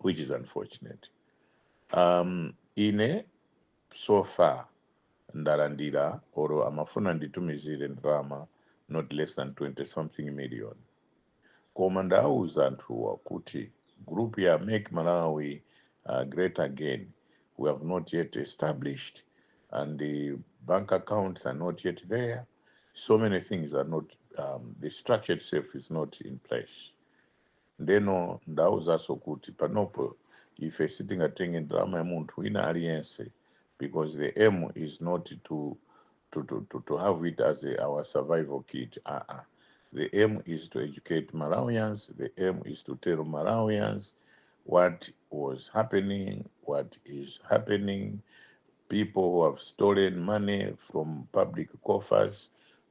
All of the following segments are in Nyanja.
which is unfortunate um, ine so far ndalandira oro amafuna nditumizire ndalama not less than 20 something million koma ndauza anthuwa kuti group ya make malawi uh, great again we have not yet established and the bank accounts are not yet there so many things are not um, the structure itself is not in place Ndeno ndawauzaso kuti panopo ife sitingatenge ndalama ya munthu wina aliyense because the aim is not to to to to to have it as a our survival kit aa the aim is to educate Malawians the aim is to tell Malawians what was happening what is happening people who have stolen money from public coffers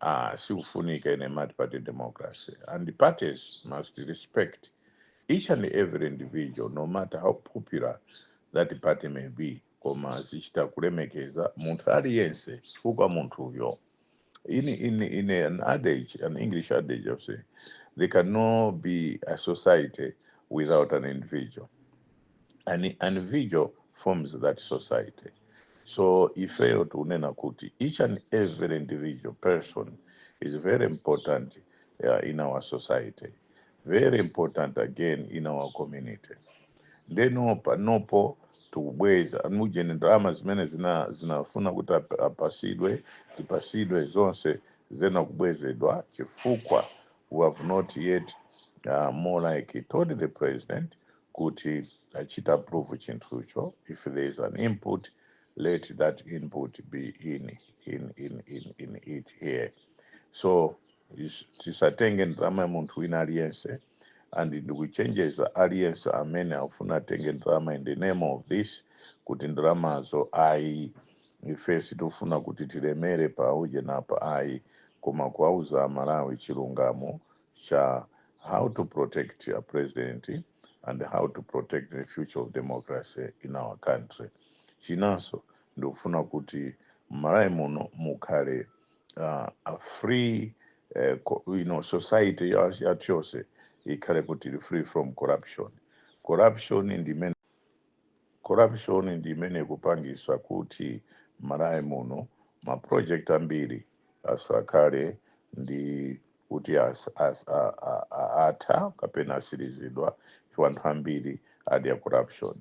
ah, sikufunika ine multiparty democracy and parties must respect each and every individual no matter how popular that party may be koma azichita kulemekeza munthu aliyense chifukwa munthuyo in, in, in an adage an english adage of say there cannot be a society without an individual an individual forms that society so ifeyo tikunena kuti each and every individual person is very important uh, in our society very important again in our community ndeno panopo tikubweza ujeni ndalama zimene zinafuna kuti ap- apasidwe tipasidwe zonse zena kubwezedwa chifukwa we have not yet uh, more like told the president kuti achita approve chinthucho if there is an input let that input be in in in in, in it here so is- tisatenge ndalama ya munthu wina aliyense and ndikuchenjeza aliyense amene akufuna atenge ndalama in the name of this kuti ndalamazo ayi ife sitifuna kuti tilemere pa ujeni apa ayi koma kuwauza amalawi chilungamo cha how to protect a president and how to protect the future of democracy in our country chinanso ndikufuna kuti m'Malawi muno mukhale uh, a free uh, co- you know, society ya- yathu yonse ikhale kuti ili free from corruption corruption ndi imene corruption ndi imene ikupangisa kuti m'Malawi muno ma project ambiri asakhaledi kuti as, as, a, a, a, atha kapena atsirizidwa chifukwa anthu ambiri adya corruption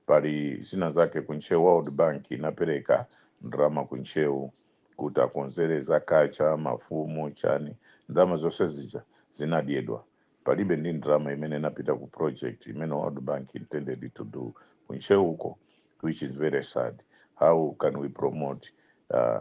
pali zina zake ku Ntcheu world bank inapereka ndalama ku Ntcheu kuti akonzere za kacha mafumu chani ndalama zonse zija zinadyedwa palibe ndi ndalama imene inapita ku project imene world bank intended to do ku Ntcheuko which is very sad how can we promote uh,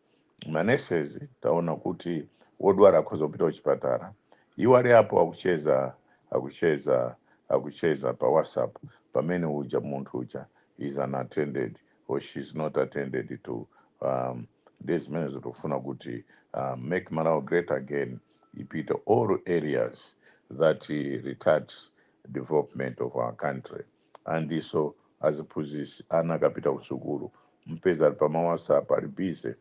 manurses taona kuti wodwala akhoza kupita kuchipatala iwo ali apo akucheza akucheza akucheza pa whatsapp pamene uja munthu uja is unattended or she is not attended to um, nde zimenezo tikufuna kuti uh, make malawi great again ipite all areas that uh, retards development of our country andinso aziphunzitsi ana akapita kusukulu mpeza ali pama whatsapp ali busy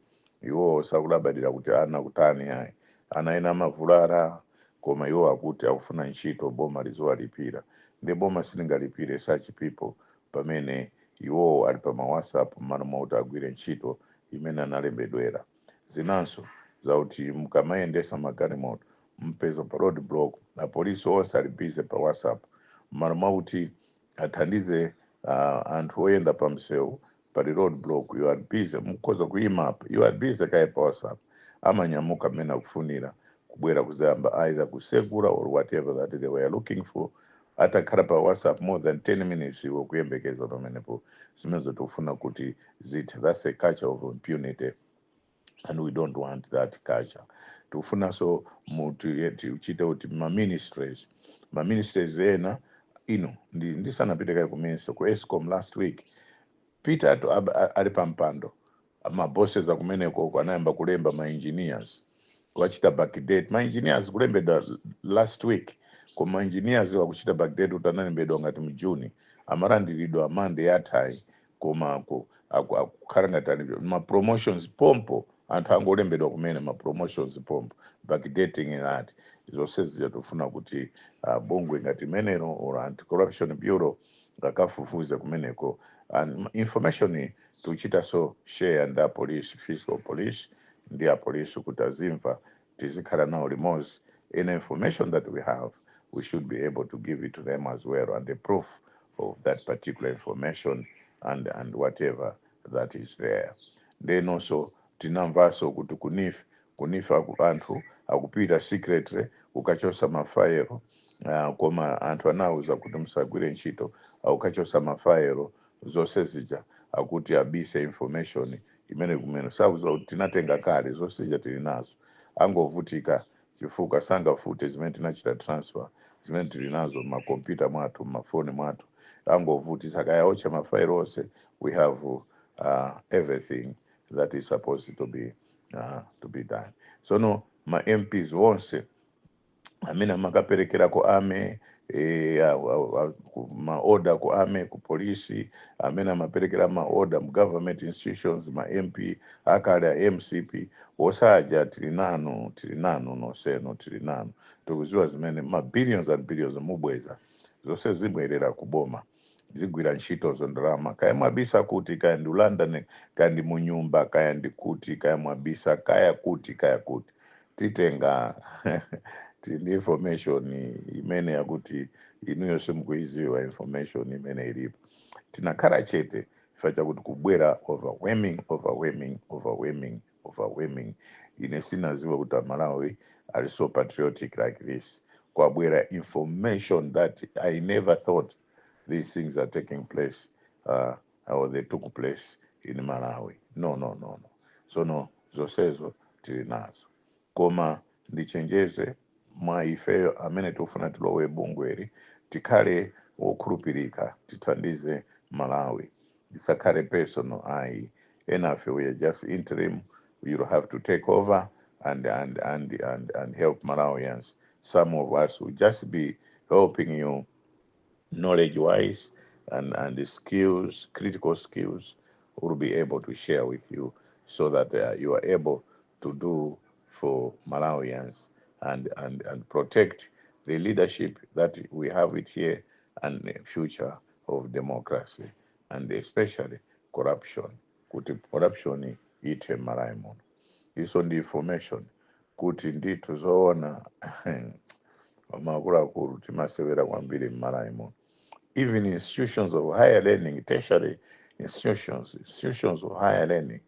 iwowo sakulabadira kuti ana kutani ayi ana ena amavulara koma iwo akuti akufuna ntchito boma liziwalipira nde boma silingalipire such people pamene iwowo ali pama whatsapp mmalo mwakuti agwire ntchito imene analembedwera. zinanso zakuti mukamayendetsa magalimoto mupeza pa road block apolice onse ali busy pa whatsapp mmalo mwakuti athandize uh, anthu oyenda pa msewu pali road block ali busy mukhoza kuyima apa ali busy kaye pa whatsapp amanyamuka mmene akufunira kubwera kuzayamba either kusegula or whatever that they were looking for Atakhala pa whatsapp more than 10 minutes iwe ukuyembekeza pamenepo zimenezo tikufuna kuti zithe that's a culture of impunity and we don't want that culture tikufunanso kuti eh, tichite kuti ma ministries ma ministries ena ino ndi ndisanapite kaye ku ministry ku escom last week peter ab- a- ali pa mpando ma bosses akumeneko uko anayamba kulemba ma engineers kuwachita backdate ma engineers kulembedwa last week koma ma engineers akuchita backdate kuti analembedwa kuti mu June amalandiridwa Monday yathayi koma aku- aku- akukhala ngati ali ma promotions pompo anthu angolembedwa kumene ma promotions pompo backdating ngati zonse zija tofuna kuti uh, bungwe ngati imenelo or anti corruption bureau akafufuze kumeneko and information Tichitaso share ndi a police, fiscal police, ndi a police kuti azimva tizikhala nawo limodzi any information that we have we should be able to give it to them as well and the proof of that particular information and and whatever that is there nde inonso tinamvaso kuti ku neef ku neef aku anthu akupita secretary kukachosa ma file ah, koma anthu anawuza kuti musagwire ntchito akukachosa ma file zonse zija akuti abise information imene kumene sakuziwa kuti tinatenga kale zonse zija tili nazo angovutika chifukwa sangafute zimene tinachita transfer zimene tili nazo m'makompyuta mwathu m'mafoni mwathu angovutika kaya otcha mafailo onse we have uh, everything that is supposed to be uh, to be done sono ma mps onse amene amakaperekera ku army eh, a- a- a- ku maoda ku army ku polisi amene amaperekera maoda mu government institutions ma mp akale a mcp nonsenu tili nanu tili nanu nonsenu tili nanu tikuziwa zimene ma billions and billions mubweza zonse zibwerera ku boma zigwira ntchitozo ndalama kaya mwabisa kuti kaya ndi london kaya ndi munyumba kaya ndi kuti kaya mwabisa kaya kuti kaya kuti titenga tili ndi information imene yakuti inuyo simukuiziwa information imene ilipo tinakhala chete chifukwa chakuti kubwera overwhelming overwhelming overwhelming overwhelming ine sinaziwe kuti amalawi ali so patriotic like this kwabwera information that i never thought these things are taking place uh, or they took place in malawi no no no no sono zosezo tili nazo Koma ndichenjeze mwa ifeyo amene tikufuna tilowe bungweli tikhale wokhulupilika tithandize Malawi isakhale personal ayi enafe we are just interim we will have to take over and and and and and help Malawians some of us will just be helping you knowledge wise and and skills critical skills will be able to share with you so that uh, you are able to do for Malawians and, and, and protect the leadership that we have it here and the future of democracy and especially corruption kuti corruption ithe m'malawi muno izo ndi information kuti ndithu zoona makuluakulu timasewera kwambiri m'malawi muno even institutions of higher learning tertiary institutions institutions of higher learning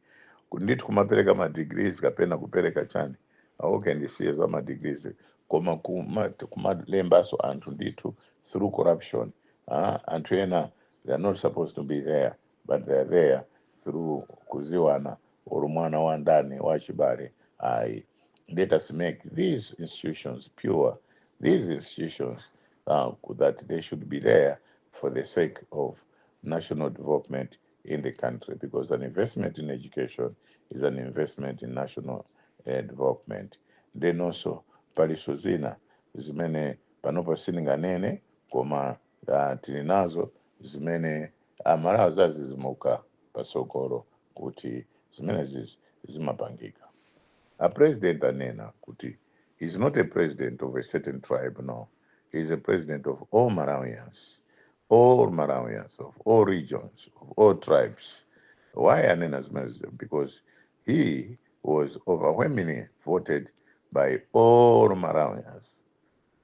ndithu kumapereka madegrees kapena kupereka chani auke ndisiye za madegrees koma kuma- kumalembaso anthu ndithu through corruption ah, anthu ena they are not supposed to be there but they are there through kuziwana or mwana wa ndani wa chibale ayi let us make these institutions pure these institutions uh, that they should be there for the sake of national development in the country because an investment in education is an investment in national uh, development then also paliso zina zimene panopa sininganene koma Ya, tili nazo zimene amalawi azazizimuka patsogolo kuti zimenezizi zimapangika. A president anena kuti he is not a president of a certain tribe, no, he is a president of all Malawians, all Malawians of all regions, of all tribes. Why anena zimenezizo? Because he was overwhelmingly voted by all Malawians.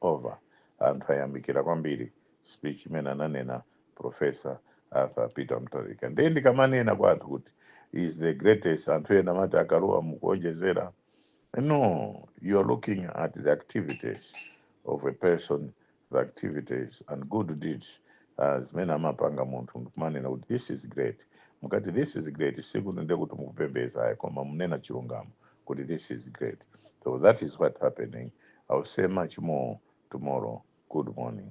over anthu ayamikira kwambiri speech imene ananena professor arthur peter mutharika ndiye ndikamanena kwa anthu kuti he is the greatest anthu ena amati akaluwa mukuonjezera no you are looking at the activities of a person the activities and good deeds ah, zimene amapanga munthu ndikumanena kuti this is great mukamati this is great sikuti ndiye kuti mukupembeza ayi koma mukunena chilungamo kuti this is great so that is what happening i will say much more tomorrow good morning